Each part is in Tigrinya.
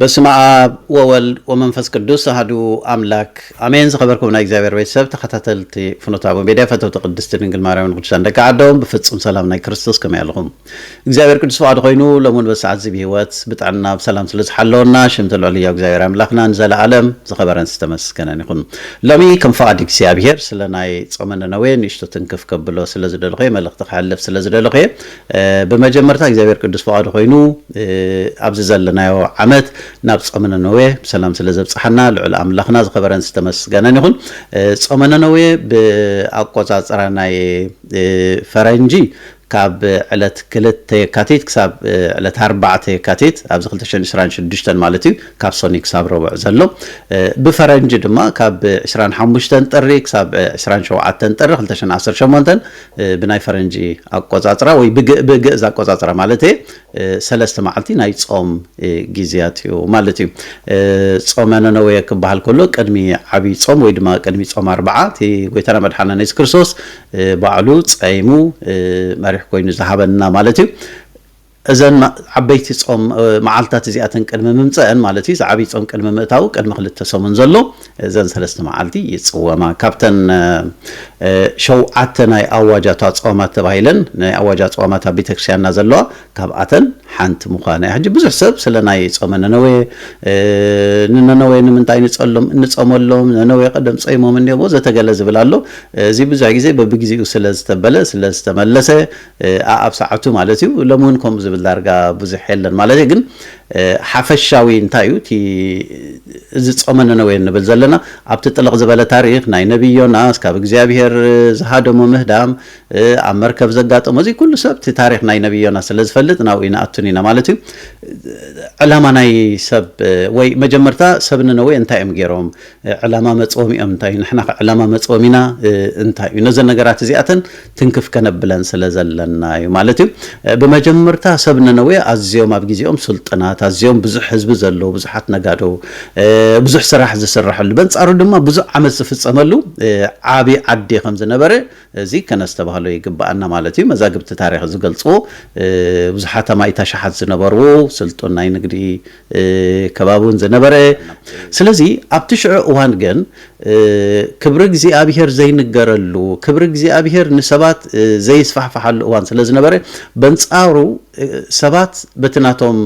በስመ ኣብ ወወልድ ወመንፈስ ቅዱስ ኣህዱ ኣምላክ ኣሜን። ዝኸበርኩም ናይ እግዚኣብሔር ቤተሰብ ተኸታተልቲ ፍኖተ ኣበው ሜድያ ፈተውቲ ቅድስቲ ድንግል ማርያምን ቅዱሳን ደቂ ዓዶም ብፍጹም ሰላም ናይ ክርስቶስ ከመይ ኣለኹም? እግዚኣብሔር ቅዱስ ፍቓዱ ኮይኑ ሎምን በሰዓት እዚ ብሂወት ብጥዕና ብሰላም ስለ ዝሓለወና ሽምቲ ልዑል ህያው እግዚኣብሔር ኣምላኽና ንዘለኣለም ዝኸበረን ዝተመስገነን ይኹን። ሎሚ ከም ፍቓድ እግዚኣብሄር ስለ ናይ ጾመ ነነዌ ንእሽቶ ትንክፍ ከብሎ ስለ ዝደለኹ እየ፣ መልእኽቲ ከሕልፍ ስለ ዝደለኹ እየ። ብመጀመርታ እግዚኣብሄር ቅዱስ ፍቓዱ ኮይኑ ኣብዚ ዘለናዮ ዓመት ናብ ጾመ ነነዌ ብሰላም ስለ ዘብጽሓና ልዑል ኣምላኽና ዝኸበረን ዝተመስገነን ይኹን። ጾመ ነነዌ ብኣቆጻጽራ ናይ ፈረንጂ ካብ ዕለት ክልተ የካቲት ክሳብ ዕለት ኣርባዕተ የካቲት ኣብዚ ክልተ ሽሕን ዕስራን ሽዱሽተን ማለት እዩ ካብ ሶኒ ክሳብ ረቡዕ ዘሎ ብፈረንጂ ድማ ካብ ዕስራን ሓሙሽተን ጥሪ ክሳብ ዕስራን ሸውዓተን ጥሪ ክልተ ሽሕን ዓሰርተ ሸሞንተን ብናይ ፈረንጂ ኣቆጻጽራ ወይ ብግ- ብግእዝ ኣቆጻጽራ ማለት እየ ሰለስተ መዓልቲ ናይ ጾም እ፣ ግዜያት እዩ ማለት እዩ እ፣ ጾመ ነነዌ ክበሃል ከሎ ቅድሚ ዓብይ ጾም ወይ ድማ ቅድሚ ጾም ኣርብዓ እቲ ጎይታና መድሓናና የሱስ ክርስቶስ ባዕሉ ጸይሙ መሪሕ ኮይኑ ዝሃበና ማለት እዩ። እዘን ዓበይቲ ጾም መዓልታት እዚኣተን ቅድሚ ምምጸእን ማለት እዩ፣ እዚ ዓብይ ጾም ቅድሚ ምእታዉ ቅድሚ ክልተ ሰሙን ዘሎ እዘን ሰለስተ መዓልቲ ይጽወማ። ካብተን ሸውዓተ ናይ ኣዋጃታ ጾማት ተባሂለን ናይ ኣዋጃ ጾማት ኣብ ቤተክርስቲያንና ዘለዋ ካብኣተን ሓንቲ ምዃና እያ። ሕጂ ብዙሕ ሰብ ስለ ናይ ጾመ ነነዌ፣ ንነነዌ ንምንታይ ንጸሎም እንጸመሎም፣ ነነዌ ቀደም ጸይሞም እንዲዮም ወዘተ ገለ ዝብል ኣሎ። እዚ ብዙሕ ግዜ በብግዜኡ ስለ ዝተበለ ስለ ዝተመለሰ ኣኣብ ሰዓቱ ማለት እዩ። ሎሚ እውን ከምኡ ዝብል ዳርጋ ብዙሕ የለን ማለት እየ። ግን ሓፈሻዊ እንታይ እዩ እቲ እዚ ጾመ ነነዌ እንብል ዘለና ኣብቲ ጥልቕ ዝበለ ታሪኽ ናይ ነብይ ዮናስ ካብ እግዚኣብሄር ዝሃደሞ ምህዳም ኣብ መርከብ ዘጋጠሞ እዚ ኩሉ ሰብ እቲ ታሪክ ናይ ነቢ ዮናስ ስለ ዝፈልጥ ናብኡ ይንኣቱን ኢና ማለት እዩ ዕላማ ናይ ሰብ ወይ መጀመርታ ሰብ ንነዌ እንታይ እዮም ገይሮም ዕላማ መፅኦም እዮም እንታይ እዩ ንሕና ዕላማ መፅኦም ኢና እንታይ እዩ ነዘን ነገራት እዚኣተን ትንክፍ ከነብለን ስለ ዘለና እዩ ማለት እዩ ብመጀመርታ ሰብ ንነዌ ኣዝዮም ኣብ ግዜኦም ስልጥናት ኣዝዮም ብዙሕ ህዝቢ ዘለዎ ብዙሓት ነጋዶ ብዙሕ ስራሕ ዝስራሐሉ በንፃሩ ድማ ብዙሕ ዓመት ዝፍፀመሉ ዓብዪ ዓዲ ከም ዝነበረ እዚ ከነስተባህሎ ይግበኣና ማለት እዩ። መዛግብቲ ታሪኽ ዝገልጹ ብዙሓት ኣማኢት ኣሽሓት ዝነበርዎ ስልጡን ናይ ንግዲ ከባቢ እውን ዝነበረ ስለዚ ኣብቲ ሽዑ እዋን ግን ክብሪ እግዚኣብሄር ዘይንገረሉ ክብሪ እግዚኣብሄር ንሰባት ዘይስፋሕፋሓሉ እዋን ስለ ዝነበረ በንጻሩ ሰባት በቲ ናቶም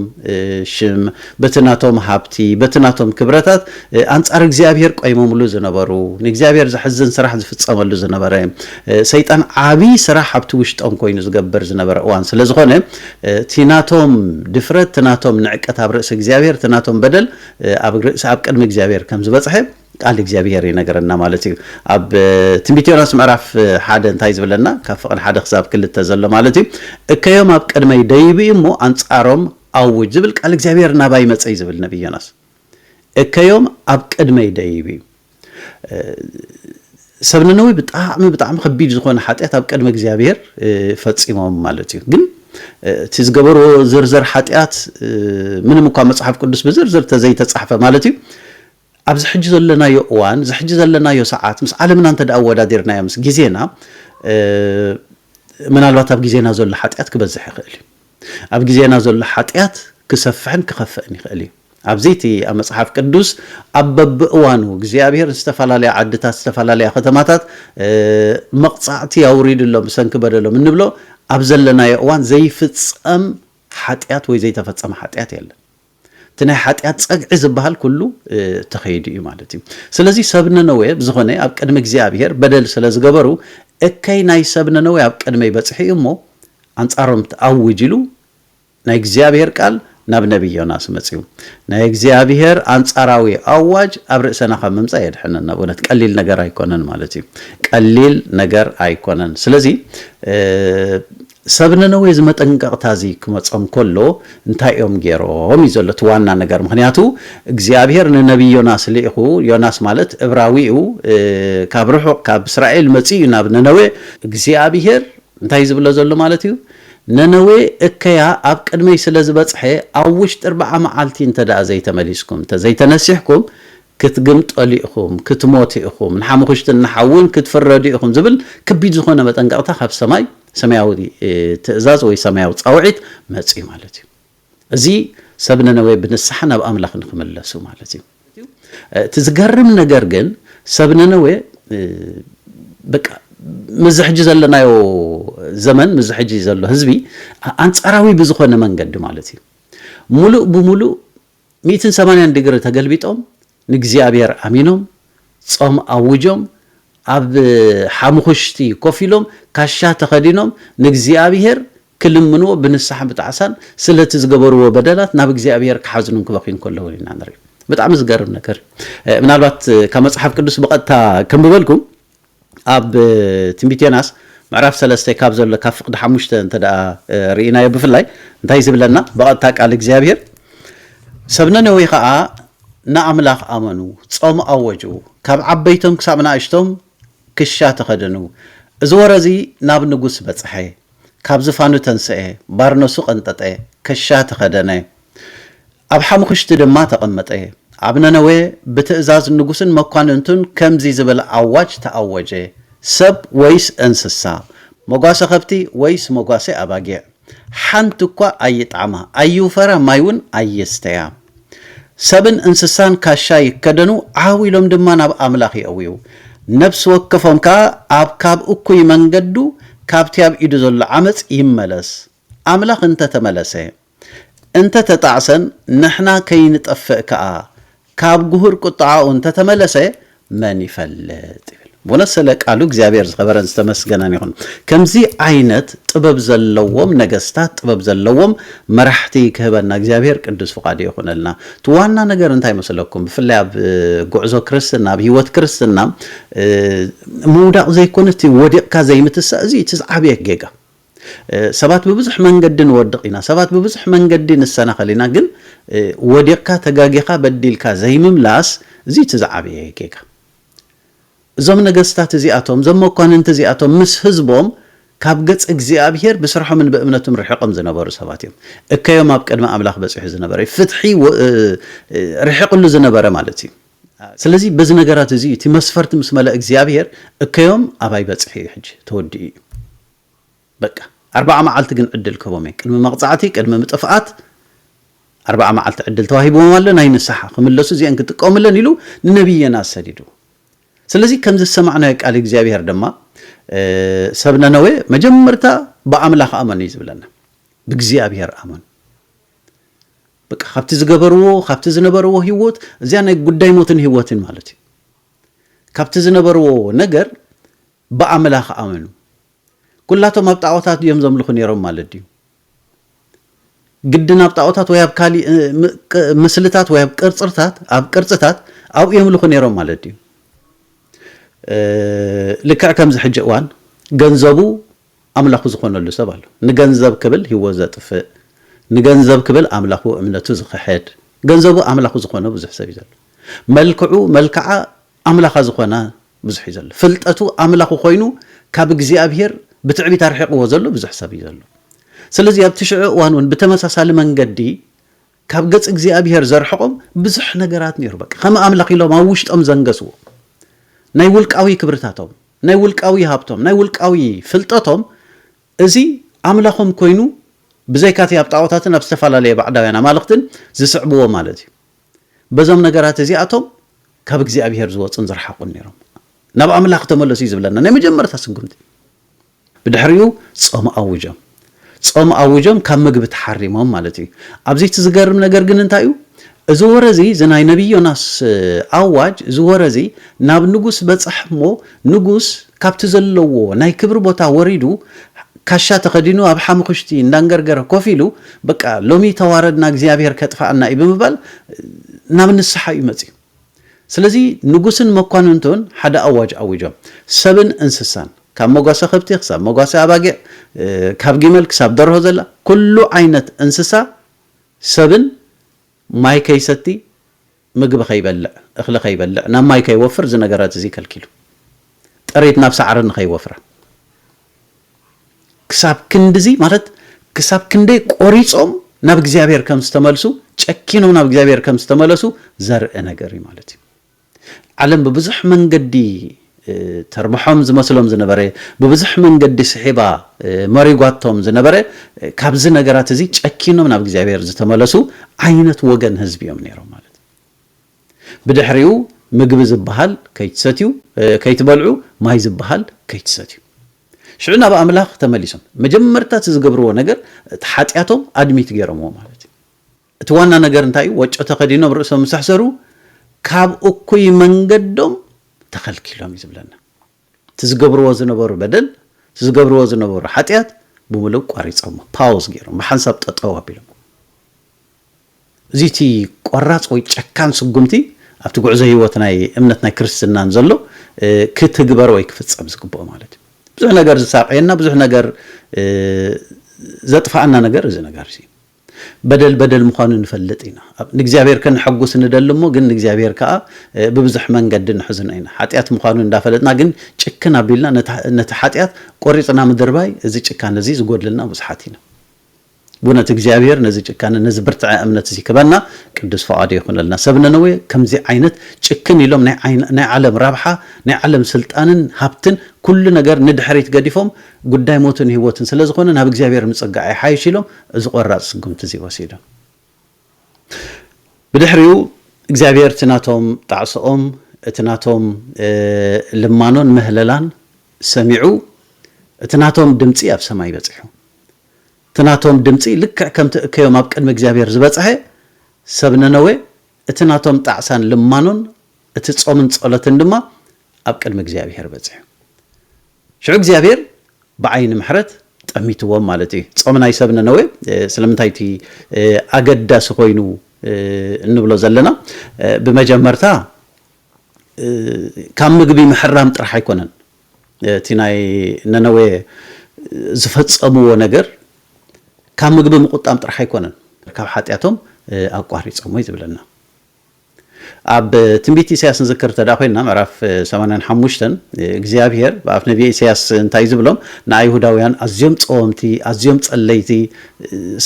ሽም፣ በቲ ናቶም ሃብቲ፣ በቲ ናቶም ክብረታት ኣንጻር እግዚኣብሄር ቆይሞምሉ ዝነበሩ፣ ንእግዚኣብሄር ዘሕዝን ስራሕ ዝፍጸመሉ ዝነበረ፣ ሰይጣን ዓቢ ስራሕ ኣብቲ ውሽጦም ኮይኑ ዝገብር ዝነበረ እዋን ስለ ዝኾነ፣ እቲ ናቶም ድፍረት፣ እቲ ናቶም ንዕቀት ኣብ ርእሲ እግዚኣብሄር፣ እቲ ናቶም በደል ኣብ ርእሲ ኣብ ቅድሚ እግዚኣብሄር ከም ዝበጽሐ፣ ቃል እግዚኣብሄር ይነግረና ማለት እዩ ኣብ ትንቢት ዮናስ ምዕራፍ ሓደ እንታይ ዝብለና ካብ ፍቕድ ሓደ ክሳብ ክልተ ዘሎ ማለት እዩ እከዮም ኣብ ቅድመይ ደይብ እዩ እሞ ኣንጻሮም ኣውጅ ዝብል ቃል እግዚኣብሄር ናባ ይመፀ እዩ ዝብል ነቢይ ዮናስ እከዮም ኣብ ቅድመይ ደይብ እዩ ሰብ ነነዊ ብጣዕሚ ብጣዕሚ ከቢድ ዝኾነ ሓጢኣት ኣብ ቅድሚ እግዚኣብሄር ፈፂሞም ማለት እዩ ግን እቲ ዝገበርዎ ዝርዝር ሓጢኣት ምንም እኳ መፅሓፍ ቅዱስ ብዝርዝር ተዘይተፃሕፈ ማለት እዩ ኣብዚ ሕጂ ዘለናዮ እዋን እዚ ሕጂ ዘለናዮ ሰዓት ምስ ዓለምና እንተ ኣወዳዲርናዮ ምስ ግዜና ምናልባት ኣብ ግዜና ዘሎ ሓጢኣት ክበዝሕ ይኽእል እዩ ኣብ ግዜና ዘሎ ሓጢኣት ክሰፍሕን ክኸፍእን ይኽእል እዩ ኣብዚ እቲ ኣብ መፅሓፍ ቅዱስ ኣብ በብእዋኑ እግዚኣብሄር ዝተፈላለያ ዓድታት ዝተፈላለያ ከተማታት መቕፃዕቲ ኣውሪድሎም ብሰንኪ በደሎም እንብሎ ኣብ ዘለናዮ እዋን ዘይፍፀም ሓጢኣት ወይ ዘይተፈፀመ ሓጢኣት የለን እቲ ናይ ሓጢኣት ጸግዒ ዝበሃል ኩሉ ተኸይዱ እዩ ማለት እዩ። ስለዚ ሰብ ነነዌ ብዝኾነ ኣብ ቅድሚ እግዚኣብሄር በደል ስለ ዝገበሩ እከይ ናይ ሰብ ነነዌ ኣብ ቅድመይ በጽሑ እዩ እሞ ኣንጻሮም ትኣውጅ ኢሉ ናይ እግዚኣብሄር ቃል ናብ ነቢይ ዮናስ መጺኡ። ናይ እግዚኣብሄር ኣንጻራዊ ኣዋጅ ኣብ ርእሰና ካብ ምምጻእ የድሕነና። ብእውነት ቀሊል ነገር ኣይኮነን ማለት እዩ። ቀሊል ነገር ኣይኮነን። ስለዚ ሰብ ነነዌ እዚ መጠንቀቕታ እዚ ክመጾም ከሎ እንታይ እዮም ገይሮም እዩ ዘሎ እቲ ዋና ነገር ምኽንያቱ እግዚኣብሄር ንነብዪ ዮናስ ልኢኹ ዮናስ ማለት እብራዊ እዩ ካብ ርሑቕ ካብ እስራኤል መጺኡ እዩ ናብ ነነዌ እግዚኣብሄር እንታይ እዩ ዝብሎ ዘሎ ማለት እዩ ነነዌ እከያ ኣብ ቅድመይ ስለ ዝበጽሐ ኣብ ውሽጢ እርብዓ መዓልቲ እንተድኣ ዘይተመሊስኩም እንተዘይተነሲሕኩም ክትግምጠሉ ኢኹም፣ ክትሞቱ ኢኹም፣ ንሓሙኽሽትን ንሓውን ክትፍረዱ ኢኹም ዝብል ከቢድ ዝኾነ መጠንቀቕታ ካብ ሰማይ፣ ሰማያዊ ትእዛዝ ወይ ሰማያዊ ጻውዒት መጺኡ ማለት እዩ። እዚ ሰብ ነነዌ ብንስሓ ናብ ኣምላኽ ንክምለሱ ማለት እዩ። እቲ ዝገርም ነገር ግን ሰብ ነነዌ በቃ ምዚ ሕጂ ዘለናዮ ዘመን ምዚ ሕጂ ዘሎ ህዝቢ ኣንጻራዊ ብዝኾነ መንገዲ ማለት እዩ ሙሉእ ብሙሉእ ሚእትን ሰማንያን ድግሪ ተገልቢጦም ንእግዚኣብሔር ኣሚኖም ጾም ኣውጆም ኣብ ሓሙኹሽቲ ኮፍ ኢሎም ካሻ ተኸዲኖም ንእግዚኣብሔር ክልምንዎ ብንስሓን ብጣዕሳን ስለቲ ዝገበርዎ በደላት ናብ እግዚኣብሔር ክሓዝኑን ክበኽዩን ከለዉ ኢና ንርኢ። ብጣዕሚ ዝገርም ነገር እዩ። ምናልባት ካብ መጽሓፍ ቅዱስ ብቐጥታ ከንብበልኩም ኣብ ትንቢት ዮናስ ምዕራፍ ሰለስተ ካብ ዘሎ ካብ ፍቅዲ ሓሙሽተ እንተ ርኢናዮ ብፍላይ እንታይ ዝብለና ብቐጥታ ቃል እግዚኣብሄር ሰብ ነነዌ ኸኣ ንኣምላኽ ኣመኑ ጾም ኣወጁ ካብ ዓበይቶም ክሳብ ንኣሽቶም ክሻ ተኸደኑ እዚ ወረ እዚ ናብ ንጉስ በጽሐ ካብ ዝፋኑ ተንሰኤ፣ ባርነሱ ቀንጠጠ፣ ከሻ ተኸደነ፣ ኣብ ሓሙኽሽቲ ድማ ተቐመጠ። ኣብ ነነዌ ብትእዛዝ ንጉስን መኳንንቱን ከምዚ ዝብል ኣዋጅ ተኣወጀ፣ ሰብ ወይስ እንስሳ፣ መጓሰ ኸብቲ ወይስ መጓሰ ኣባጊዕ፣ ሓንቲ እኳ ኣይጥዓማ፣ ኣይውፈራ፣ ማይውን ኣይስተያ። ሰብን እንስሳን ካሻ ይከደኑ፣ ዓው ኢሎም ድማ ናብ ኣምላኽ የእውዩ። ነፍሲ ወከፎም ከኣ ኣብ ካብ እኩይ መንገዱ፣ ካብቲ ኣብ ኢዱ ዘሎ ዓመጽ ይመለስ። ኣምላኽ እንተ ተመለሰ፣ እንተ ተጣዕሰን ንሕና ከይንጠፍእ ከኣ፣ ካብ ግሁር ቍጥዓኡ እንተ ተመለሰ፣ መን ይፈልጥ ይብል ብእውነት ስለ ቃሉ እግዚኣብሔር ዝኸበረን ዝተመስገነን ይኹን። ከምዚ ዓይነት ጥበብ ዘለዎም ነገስታት ጥበብ ዘለዎም መራሕቲ ክህበና እግዚኣብሔር ቅዱስ ፍቃዱ ይኹነልና። እቲ ዋና ነገር እንታይ መስለኩም? ብፍላይ ኣብ ጉዕዞ ክርስትና ኣብ ህይወት ክርስትና ምውዳቕ ዘይኮነ እቲ ወዲቕካ ዘይምትሳእ እዚ እቲ ዝዓበየ ጌጋ ሰባት ብብዙሕ መንገዲ ንወድቕ ኢና፣ ሰባት ብብዙሕ መንገዲ ንሰናኸል ኢና፣ ግን ወዲቕካ፣ ተጋጊኻ፣ በዲልካ ዘይምምላስ እዚ እቲ ዝዓበየ ጌጋ። እዞም ነገስታት እዚኣቶም፣ እዞም መኳንንቲ እዚኣቶም ምስ ህዝቦም ካብ ገጽ እግዚኣብሄር ብስርሖምን ብእምነቱን ርሒቕም ዝነበሩ ሰባት እዮም። እከዮም ኣብ ቅድሚ ኣምላኽ በጺሑ ዝነበረ እዩ። ፍትሒ ርሒቕሉ ዝነበረ ማለት እዩ። ስለዚ በዚ ነገራት እዚ እቲ መስፈርቲ ምስ መለእ እግዚኣብሄር እከዮም ኣባይ በጽሒ እዩ፣ ሕጂ ተወዲኡ እዩ። በቃ ኣርብዓ መዓልቲ ግን ዕድል ክህቦም እየ ቅድሚ መቅጻዕቲ ቅድሚ ምጥፍኣት ኣርብዓ መዓልቲ ዕድል ተዋሂብዎም ኣሎ ናይ ንስሓ ክምለሱ እዚኤን ክጥቀምለን ኢሉ ንነብይ ዮናስ ሰዲዱ ስለዚ ከም ዝሰማዕናዮ ቃል እግዚኣብሄር ድማ ሰብ ነነዌ መጀመርታ ብኣምላኽ ኣመኑ እዩ ዝብለና ብእግዚኣብሄር ኣመኑ በቃ ካብቲ ዝገበርዎ ካብቲ ዝነበርዎ ህይወት እዚያ ናይ ጉዳይ ሞትን ህይወትን ማለት እዩ ካብቲ ዝነበርዎ ነገር ብኣምላኽ ኣመኑ። ኩላቶም ኣብ ጣኦታት ድዮም ዘምልኹ ኔሮም ማለት ድዩ? ግድን ኣብ ጣኦታት ወይ ኣብ ካሊእ ምስልታት ወይ ኣብ ቅርጽርታት ኣብ ቅርጽታት ኣብኡ የምልኹ ኔሮም ማለት ድዩ? ልክዕ ከምዚ ሕጂ እዋን ገንዘቡ ኣምላኹ ዝኾነሉ ሰብ ኣሎ። ንገንዘብ ክብል ህይወት ዘጥፍእ፣ ንገንዘብ ክብል ኣምላኹ እምነቱ ዝኽሕድ፣ ገንዘቡ ኣምላኹ ዝኾነ ብዙሕ ሰብ እዩ ዘሎ። መልክዑ መልክዓ ኣምላኻ ዝኾና ብዙሕ እዩ ዘሎ ፍልጠቱ ኣምላኹ ኮይኑ ካብ እግዚኣብሄር ብትዕቢት ኣርሒቕዎ ዘሎ ብዙሕ ሰብ እዩ ዘሎ ስለዚ ኣብቲ ሽዑ እዋን እውን ብተመሳሳሊ መንገዲ ካብ ገጽ እግዚኣብሄር ዘርሕቖም ብዙሕ ነገራት ነይሩ በቃ ከም ኣምላኽ ኢሎም ኣብ ውሽጦም ዘንገስዎ ናይ ውልቃዊ ክብርታቶም ናይ ውልቃዊ ሃብቶም ናይ ውልቃዊ ፍልጠቶም እዚ ኣምላኾም ኮይኑ ብዘይካቲ ኣብ ጣዖታትን ኣብ ዝተፈላለየ ባዕዳውያን ኣማልኽትን ዝስዕብዎ ማለት እዩ በዞም ነገራት እዚኣቶም ካብ እግዚኣብሄር ዝወጹን ዝረሓቑን ነይሮም። ናብ ኣምላኽ ተመለሱ እዩ ዝብለና ናይ መጀመርታ ስጉምቲ። ብድሕሪኡ ጾም ኣውጆም። ጾም ኣውጆም ካብ ምግቢ ተሓሪሞም ማለት እዩ። ኣብዚ እቲ ዝገርም ነገር ግን እንታይ እዩ? እዚ ወረ እዚ እዚ ናይ ነቢይ ዮናስ ኣዋጅ እዚ ወረ እዚ ናብ ንጉስ በጽሕ እሞ ንጉስ ካብቲ ዘለዎ ናይ ክብሪ ቦታ ወሪዱ ካሻ ተኸዲኑ ኣብ ሓሙኽሽቲ እንዳንገርገረ ኮፍ ኢሉ በቃ ሎሚ ተዋረድና እግዚኣብሄር ከጥፍኣና እዩ ብምባል ናብ ንስሓ እዩ መጺኡ። ስለዚ ንጉስን መኳንንቱን ሓደ ኣዋጅ ኣዊጆም ሰብን እንስሳን ካብ መጓሰ ከብቲ ክሳብ መጓሰ ኣባጊዕ ካብ ጊመል ክሳብ ደርሆ ዘላ ኩሉ ዓይነት እንስሳ ሰብን ማይ ከይሰቲ ምግቢ ከይበልዕ፣ እኽሊ ከይበልዕ፣ ናብ ማይ ከይወፍር እዚ ነገራት እዚ ከልኪሉ። ጥሪት ናብ ሳዕሪ ንከይወፍራ። ክሳብ ክንድዚ ማለት ክሳብ ክንደይ ቆሪጾም ናብ እግዚኣብሔር ከም ዝተመልሱ ጨኪኖም ናብ እግዚኣብሔር ከም ዝተመለሱ ዘርኢ ነገር እዩ ማለት እዩ። ዓለም ብብዙሕ መንገዲ ተርብሖም ዝመስሎም ዝነበረ፣ ብብዙሕ መንገዲ ስሒባ መሪጓቶም ዝነበረ፣ ካብዚ ነገራት እዚ ጨኪኖም ናብ እግዚኣብሔር ዝተመለሱ ዓይነት ወገን ህዝቢ እዮም ነይሮም ማለት እዩ። ብድሕሪኡ ምግቢ ዝበሃል ከይትሰትዩ ከይትበልዑ ማይ ዝበሃል ከይትሰትዩ ሽዑ ናብ ኣምላኽ ተመሊሶም መጀመርታ እቲ ዝገብርዎ ነገር እቲ ሓጢኣቶም ኣድሚት ገይሮምዎ ማለት እዩ። እቲ ዋና ነገር እንታይ እዩ? ወጮ ተኸዲኖም ርእሶም ምስ ኣሕሰሩ ካብ እኩይ መንገዶም ተኸልኪሎም እዩ ዝብለና። እቲ ዝገብርዎ ዝነበሩ በደል፣ እቲ ዝገብርዎ ዝነበሩ ሓጢኣት ብምሉእ ቋሪጾሞ፣ ፓውዝ ገይሮም፣ ብሓንሳብ ጠጠው ኣቢሎም። እዚ እቲ ቆራጽ ወይ ጨካን ስጉምቲ ኣብቲ ጉዕዞ ህይወት ናይ እምነት ናይ ክርስትናን ዘሎ ክትግበር ወይ ክፍጸም ዝግብኦ ማለት እዩ። ብዙሕ ነገር ዝሳቀየና ብዙሕ ነገር ዘጥፋኣና ነገር እዚ ነገር እዚ በደል በደል ምዃኑ ንፈልጥ ኢና። ንእግዚኣብሔር ከነሐጉስ ንደሊ እሞ ግን ንእግዚኣብሔር ከኣ ብብዙሕ መንገዲ ንሕዝኖ ኢና። ኃጢኣት ምዃኑ እንዳፈለጥና ግን ጭክን ኣቢልና ነቲ ኃጢኣት ቆሪጽና ምድርባይ እዚ ጭካነ እዚ ዝጎድለና ብዙሓት ኢና። ብእውነት እግዚኣብሔር ነዚ ጭካነ ነዚ ብርትዐ እምነት እዚ ክበና ቅዱስ ፍቓዱ ይኹነልና። ሰብ ነነዌ ከምዚ ዓይነት ጭክን ኢሎም ናይ ዓለም ረብሓ ናይ ዓለም ስልጣንን ሃብትን ኩሉ ነገር ንድሕሪት ገዲፎም ጉዳይ ሞትን ሕይወትን ስለዝኾነ ናብ እግዚኣብሔር ምጽጋዕ ይሓይሽ ኢሎም እዚ ቆራጽ ስጉምቲ እዚ ወሲዱ። ብድሕሪኡ እግዚኣብሄር እቲ ናቶም ጣዕሶኦም እቲ ናቶም ልማኖን ምህለላን ሰሚዑ እቲ ናቶም ድምጺ ኣብ ሰማይ በጺሑ። እቲ ናቶም ድምጺ ልክዕ ከምቲ እከዮም ኣብ ቅድሚ እግዚኣብሄር ዝበጽሐ ሰብ ነነዌ እቲ ናቶም ጣዕሳን ልማኖን እቲ ጾምን ጸሎትን ድማ ኣብ ቅድሚ እግዚኣብሄር በጺሑ። ሽዑ እግዚኣብሄር ብዓይኒ ምሕረት ጠሚትዎም ማለት እዩ። ጾም ናይ ሰብ ነነዌ ስለምንታይ እቲ ኣገዳሲ ኮይኑ እንብሎ ዘለና ብመጀመርታ ካብ ምግቢ ምሕራም ጥራሕ ኣይኮነን እቲ ናይ ነነዌ ዝፈጸምዎ ነገር ካብ ምግቢ ምቑጣም ጥራሕ ኣይኮነን ካብ ሓጢኣቶም ኣቋሪጾም ወይ ዝብለና ኣብ ትንቢት ኢሳያስ ንዝክር እንተ ኮይንና ምዕራፍ ሰማንያን ሓሙሽተን እግዚኣብሄር ብኣፍ ነብየ ኢሳያስ እንታይ እዩ ዝብሎም ንኣይሁዳውያን ኣዝዮም ጸወምቲ ኣዝዮም ጸለይቲ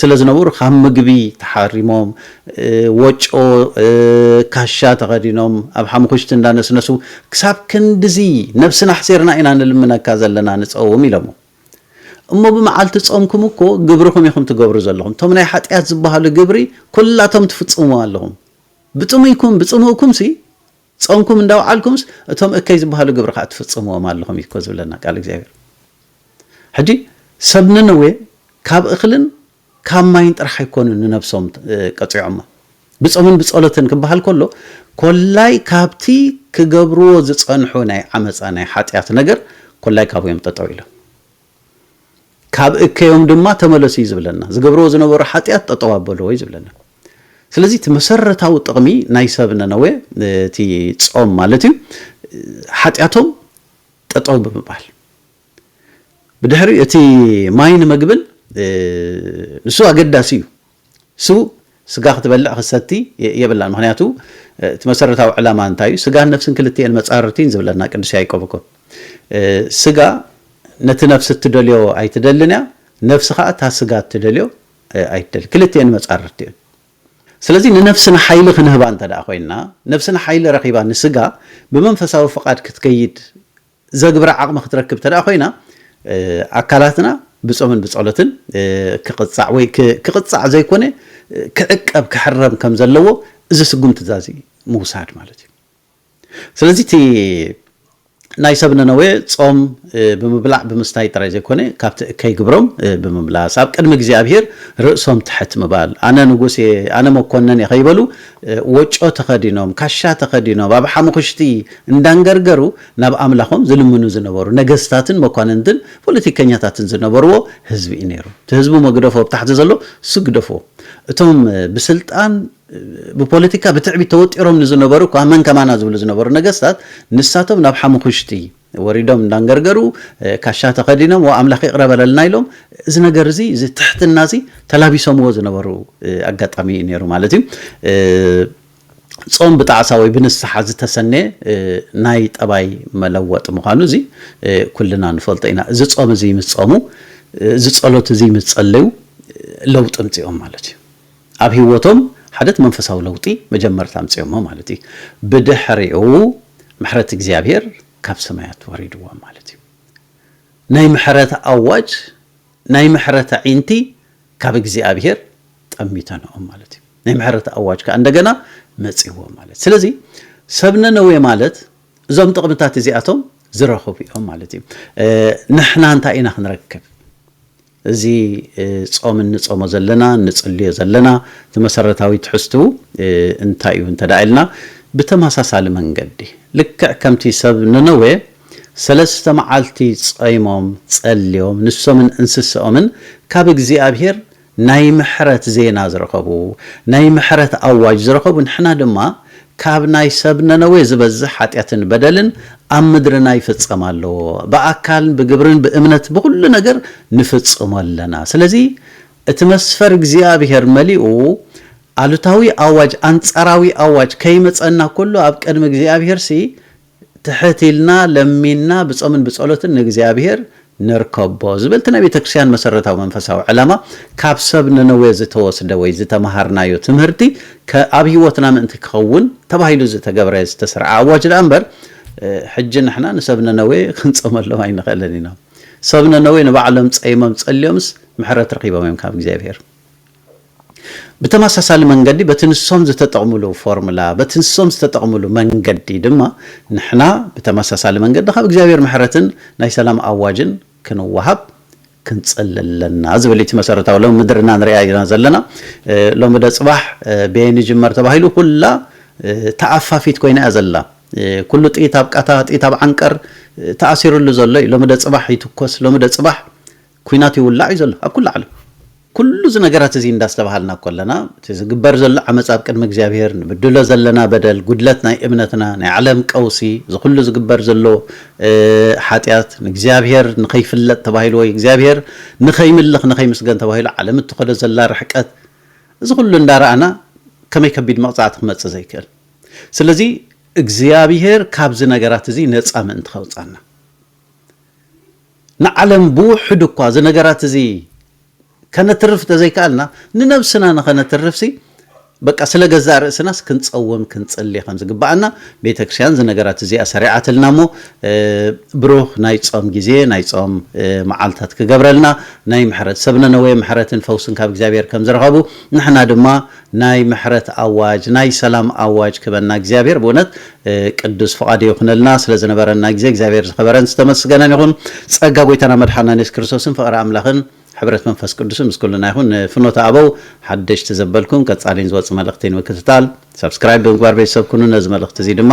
ስለ ዝነበሩ ካብ ምግቢ ተሓሪሞም ወጮ ካሻ ተኸዲኖም ኣብ ሓሙኽሽቲ እንዳነስነሱ ክሳብ ክንድዚ ነብስና ኣሕሲርና ኢና ንልምነካ ዘለና ንጸውም ኢሎሞ እሞ ብመዓልቲ ጾምኩም እኮ ግብርኹም ኢኹም ትገብሩ ዘለኹም፣ እቶም ናይ ሓጥያት ዝበሃሉ ግብሪ ኩላቶም ትፍጽምዎም ኣለኹም፣ ብጥሙይኩም ብጽምእኩምሲ ጾምኩም እንዳውዓልኩምስ እቶም እከይ ዝበሃሉ ግብሪ ከኣ ትፍጽምዎም ኣለኹም እዩ እኮ ዝብለና ቃል እግዚኣብሔር። ሕጂ ሰብ ነነዌ ካብ እኽልን ካብ ማይን ጥራሕ ኣይኮኑን ንነብሶም ቀጺዖማ። ብጾምን ብጸሎትን ክበሃል ከሎ፣ ኮላይ ካብቲ ክገብርዎ ዝጸንሑ ናይ ዓመጻ ናይ ሓጢኣት ነገር ኮላይ ካብኡ እዮም ጠጠው ኢሎም። ካብ እከዮም ድማ ተመለሱ እዩ ዝብለና። ዝገብርዎ ዝነበሩ ሓጢኣት ጠጠው ኣበልዎ እዩ ዝብለና። ስለዚ እቲ መሰረታዊ ጥቕሚ ናይ ሰብ ነነዌ እቲ ጾም ማለት እዩ ሓጢኣቶም ጠጠው ብምባል ብድሕሪ እቲ ማይን መግብን ንሱ ኣገዳሲ እዩ ንሱ ስጋ ክትበልዕ ክትሰቲ የብላን ምክንያቱ እቲ መሰረታዊ ዕላማ እንታይ እዩ ስጋን ነፍስን ክልትኤን መፃርርቲን ዝብለና ቅዱስ ያይቆብ እኮ ስጋ ነቲ ነፍሲ እትደልዮ ኣይትደልን እያ ነፍሲ ከዓ እታ ስጋ እትደልዮ ኣይትደል ክልትኤን መፃርርቲ እየን ስለዚ ንነፍስና ሓይሊ ክንህባ እንተ ኮይና ነፍስና ሓይሊ ረኺባ ንስጋ ብመንፈሳዊ ፍቓድ ክትከይድ ዘግብራ ዓቕሚ ክትረክብ እንተድኣ ኮይና ኣካላትና ብጾምን ብጸሎትን ክቕጻዕ ወይ ክቕጻዕ ዘይኮነ ክዕቀብ ክሕረም ከም ዘለዎ እዚ ስጉምቲ እዛዚ ምውሳድ ማለት እዩ። ስለዚ እቲ ናይ ሰብ ነነዌ ጾም ብምብላዕ ብምስታይ ጥራይ ዘይኮነ ካብቲ እከይ ግብሮም ብምምላስ ኣብ ቅድሚ እግዚኣብሄር ርእሶም ትሕት ምባል ኣነ ንጉስ እየ ኣነ መኮነን እየ ከይበሉ ወጮ ተኸዲኖም ካሻ ተኸዲኖም ኣብ ሓሙኽሽቲ እንዳንገርገሩ ናብ ኣምላኾም ዝልምኑ ዝነበሩ ነገስታትን መኳንንትን ፖለቲከኛታትን ዝነበርዎ ህዝቢ እዩ ነይሩ። እቲ ህዝቢ እሞ ግደፎ ኣብ ታሕቲ ዘሎ እሱ ግደፎ እቶም ብስልጣን ብፖለቲካ ብትዕቢት ተወጢሮም ንዝነበሩ እኳ መን ከማና ዝብሉ ዝነበሩ ነገስታት ንሳቶም ናብ ሓሙኹሽቲ ወሪዶም እንዳንገርገሩ ካሻ ተኸዲኖም ዋ ኣምላኽ ይቕረ በለልና ኢሎም እዚ ነገር እዚ እዚ ትሕትና እዚ ተላቢሶምዎ ዝነበሩ ኣጋጣሚ እዩ ነይሩ ማለት እዩ። ጾም ብጣዕሳ ወይ ብንስሓ ዝተሰነየ ናይ ጠባይ መለወጢ ምዃኑ እዚ ኩልና ንፈልጦ ኢና። እዚ ጾም እዚ ምስ ጾሙ፣ እዚ ጸሎት እዚ ምስ ጸለዩ ለውጢ ኣምጺኦም ማለት እዩ። ኣብ ህይወቶም ሓደት መንፈሳዊ ለውጢ መጀመርታ ኣምጺኦሞ ማለት እዩ። ብድሕሪኡ ምሕረት እግዚኣብሔር ካብ ሰማያት ወሪድዎም ማለት እዩ። ናይ ምሕረት ኣዋጅ ናይ ምሕረት ኣዒንቲ ካብ እግዚኣብሄር ጠሚተንኦም ማለት እዩ። ናይ ምሕረት ኣዋጅ ከኣ እንደገና መጺእዎም ማለት ስለዚ ሰብ ነነዌ ማለት እዞም ጥቕምታት እዚኣቶም ዝረኽቡ እዮም ማለት እዩ። ንሕና እንታይ ኢና ክንረክብ? እዚ ጾም እንጾሞ ዘለና እንጽልዮ ዘለና እቲ መሰረታዊ ትሕዝትኡ እንታይ እዩ እንተ ኢልና ብተመሳሳሊ መንገዲ ልክዕ ከምቲ ሰብ ነነዌ ሰለስተ መዓልቲ ጾይሞም ጸልዮም ንሶምን እንስሰኦምን ካብ እግዚኣብሄር ናይ ምሕረት ዜና ዝረኸቡ ናይ ምሕረት ኣዋጅ ዝረኸቡ ንሕና ድማ ካብ ናይ ሰብ ነነዌ ዝበዝሕ ሓጢኣትን በደልን ኣብ ምድርና ይፍጸም ኣሎ ብኣካልን ብግብርን ብእምነት ብኹሉ ነገር ንፍጽሞ ኣለና ስለዚ እቲ መስፈር እግዚኣብሄር መሊኡ ኣሉታዊ ኣዋጅ ኣንጻራዊ ኣዋጅ ከይመጸና ኩሉ ኣብ ቅድሚ እግዚኣብሄርሲ ትሕት ኢልና ለሚንና ብጾምን ብጸሎትን ንእግዚኣብሔር ንርከቦ ዝብል እቲ ናይ ቤተ ክርስቲያን መሰረታዊ መንፈሳዊ ዕላማ ካብ ሰብ ነነዌ ዝተወስደ ወይ ዝተመሃርናዮ ትምህርቲ ኣብ ሕይወትና ምእንቲ ክኸውን ተባሂሉ ዝተገብረ ዝተሰርዐ ኣዋጅ ደኣ እምበር ሕጂ ንሕና ንሰብ ነነዌ ክንጾመሎም ኣይንኽእልን ኢና። ሰብ ነነዌ ንባዕሎም ጸይሞም ጸልዮምስ ምሕረት ረኺቦም እዮም ካብ እግዚኣብሔር። ብተመሳሳሊ መንገዲ በቲ ንሶም ዝተጠቕምሉ ፎርምላ፣ በቲ ንሶም ዝተጠቕምሉ መንገዲ ድማ ንሕና ብተመሳሳሊ መንገዲ ካብ እግዚኣብሔር ምሕረትን ናይ ሰላም ኣዋጅን ክንወሃብ ክንጽሊ ኣለና ዝብል እዩ እቲ መሰረታዊ ሎሚ ምድርና ንሪኣ ኢና ዘለና ሎሚ ዶ ጽባሕ በየን ይጅመር ተባሂሉ ኩላ ተኣፋፊት ኮይና እያ ዘላ ኩሉ ጥይት ኣብ ቃታ ጥይት ኣብ ዓንቀር ተኣሲርሉ ዘሎ እዩ ሎሚ ዶ ጽባሕ ይትኮስ ሎሚ ዶ ጽባሕ ኩናት ይውላዕ እዩ ዘሎ ኣብ ኩሉ ዓለም። ኩሉ እዚ ነገራት እዚ እንዳስተብሃልና ኮለና እቲ ዝግበር ዘሎ ዓመጽ ኣብ ቅድሚ እግዚኣብሄር፣ ንብድሎ ዘለና በደል፣ ጉድለት ናይ እምነትና፣ ናይ ዓለም ቀውሲ፣ እዚ ኩሉ ዝግበር ዘሎ ሓጢኣት፣ ንእግዚኣብሄር ንኸይፍለጥ ተባሂሉ ወይ እግዚኣብሄር ንኸይምልኽ ንኸይምስገን ተባሂሉ ዓለም እትኸዶ ዘላ ርሕቀት እዚ ኩሉ እንዳረኣና ከመይ ከቢድ መቕጻዕቲ ክመጽእ ዘይክእል። ስለዚ እግዚኣብሄር ካብዚ ነገራት እዚ ነጻ ምእንቲ ከውጻና። ንዓለም ብውሕዱ እኳ እዚ ነገራት እዚ ከነትርፍ ተዘይከኣልና ንነብስና ንኸነትርፍሲ በቃ ስለ ገዛእ ርእስናስ ክንጸውም ክንጽሊ ከም ዝግብኣና ቤተ ክርስቲያን እዚ ነገራት እዚኣ ሰሪዓትልና እሞ ብሩኽ ናይ ጾም ግዜ ናይ ጾም መዓልታት ክገብረልና ናይ ምሕረት ሰብ ነነዌ ምሕረትን ፈውስን ካብ እግዚኣብሔር ከም ዝረኸቡ ንሕና ድማ ናይ ምሕረት ኣዋጅ ናይ ሰላም ኣዋጅ ክበና እግዚኣብሔር ብእውነት ቅዱስ ፍቓዱ ይኹነልና ስለዝነበረና ግዜ እግዚኣብሔር ዝኸበረን ዝተመስገነን ይኹን ጸጋ ጎይታና መድሓናን የሱስ ክርስቶስን ፍቕሪ ኣምላኽን ሕብረት መንፈስ ቅዱስን ምስ ኩልና ይኹን ንፍኖተ ኣበው ሓደሽቲ ዘበልኩም ቀጻሊን ዝወጽእ መልእኽቲ ንምክትታል ሳብስክራይብ ብምግባር ቤተሰብ ኩኑ ነዚ መልእኽቲ እዚ ድማ